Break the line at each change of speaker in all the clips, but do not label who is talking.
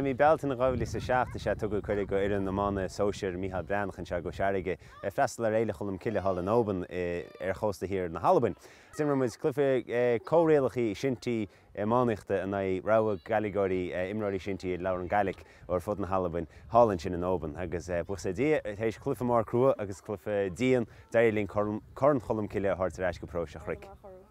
I mí Bealtaine 2007 is ea tugadh cuireadh dho fhoireann iomána sóisir Micheál Breathnach anseo i gCois Fharraige ag freastal ar Fhéile Cholm Cille thall in Oban ar chósta thiar na hAlbain. D'imir muid cluiche comhrialacha shinty iománaíochta in aghaidh rogha Gaidhligeoirí, imreoirí shinty a labhrann Gaidhlic ó ar fud na hAlbain, thall ansin in Oban. Agus buíochas le Dia, tar éis cluiche mór crua agus cluiche dian, d'éirigh linn Corn Cholm Cille a thabhairt ar ais go Paróiste an Chnoic.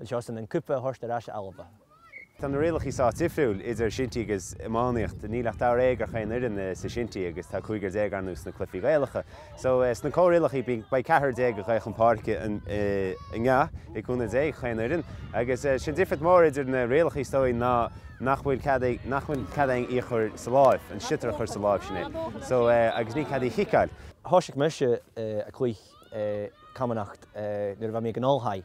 anseo son an cupa a thabhairt ar ais a Alba. Tá na
rialacha sách difriúil idir shinty agus iománaíocht. Níl ach daréag ar chaon fhoireann sa shinty agus tá cúigear déag arnú sna cluichí Gaelacha. So, sna comhrialacha beidh ceathrar déag ag dul chun páirce i ngach, ag cúnamh Dé, chaon fhoireann. Agus sin difríocht mhór idir na rialacha is dóigh ná nach bhfuil cead ag, nach bhfuil cead ag í a chur sa láimh, an sliotar a chur sa láimh, sin é. So, agus níl cead í a chiceáil. Thòisich mise
a cluich Camanachd nuair a bha mi aig an oilthigh.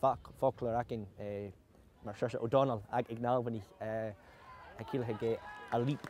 Facal againne mar Seoirse Ó Domhnaill aig ag na hAlbanaigh a cíleacha cé a leap,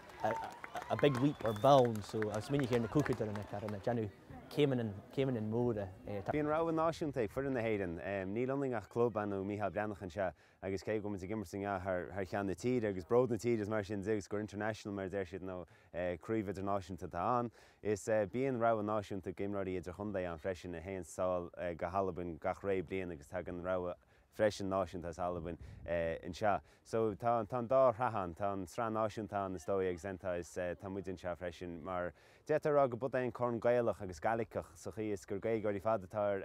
a big leap or bound so a' smaoineachadh air na cluicheadairean a' dèanamh céimeanna, céimeanna móra. Tá. Bíonn rogha
náisiúnta ag foireann na hÉireann. Níl ionainne ach club, Cumann Mícheál Breathnach anseo agus cé go bhfuil muid ag imirt in a way thar cheann na tíre agus bród na tíre is mar sin de agus gur international mar a deir siad nó Craobh idirnáisiúnta atá ann. Is bíonn rogha náisiúnta d'imreoirí idirchontae ann freisin a théann sall go hAlbain gach ré bliain agus tagann rogha freisin náisiúnta as Albain anseo. So tá an dá shraith ann. Tá an sraith náisiúnta ann is dóigh agus then tá muid anseo freisin mar d'fhéadfá a rá go b'iod é an Corn Gaelach agus Gaidhliceach sa chaoi is gur Gaeilgeoirí ar fad atá ar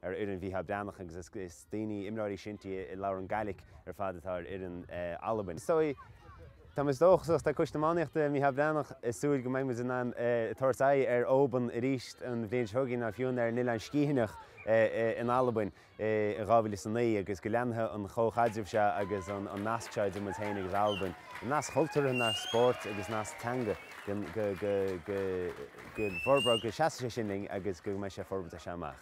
ar fhoireann Mhícheál Breathnach agus is daoine, imreoirí shinty a labhrann Gaidhlic ar fad atá ar fhoireann Albain. So tá, is dóigh, tá dóchas, tá Coiste Iománaíochta Mhícheál Breathnach ag súil go mbeidh muid in ann tabhairt aghaidh ar Oban arís an bhliain seo chugainn nó fiú ar an Oileán Sgítheanach in Albain in 2009 agus go leanfaidh an comhchaidreamh seo agus an nasc seo idir muid féin agus Albain, nasc cultúrtha, nasc spóirt agus nasc teanga, go bhforbróidh, go seasfaidh sé sin linn agus go mbeidh sé ag forbairt as seo amach.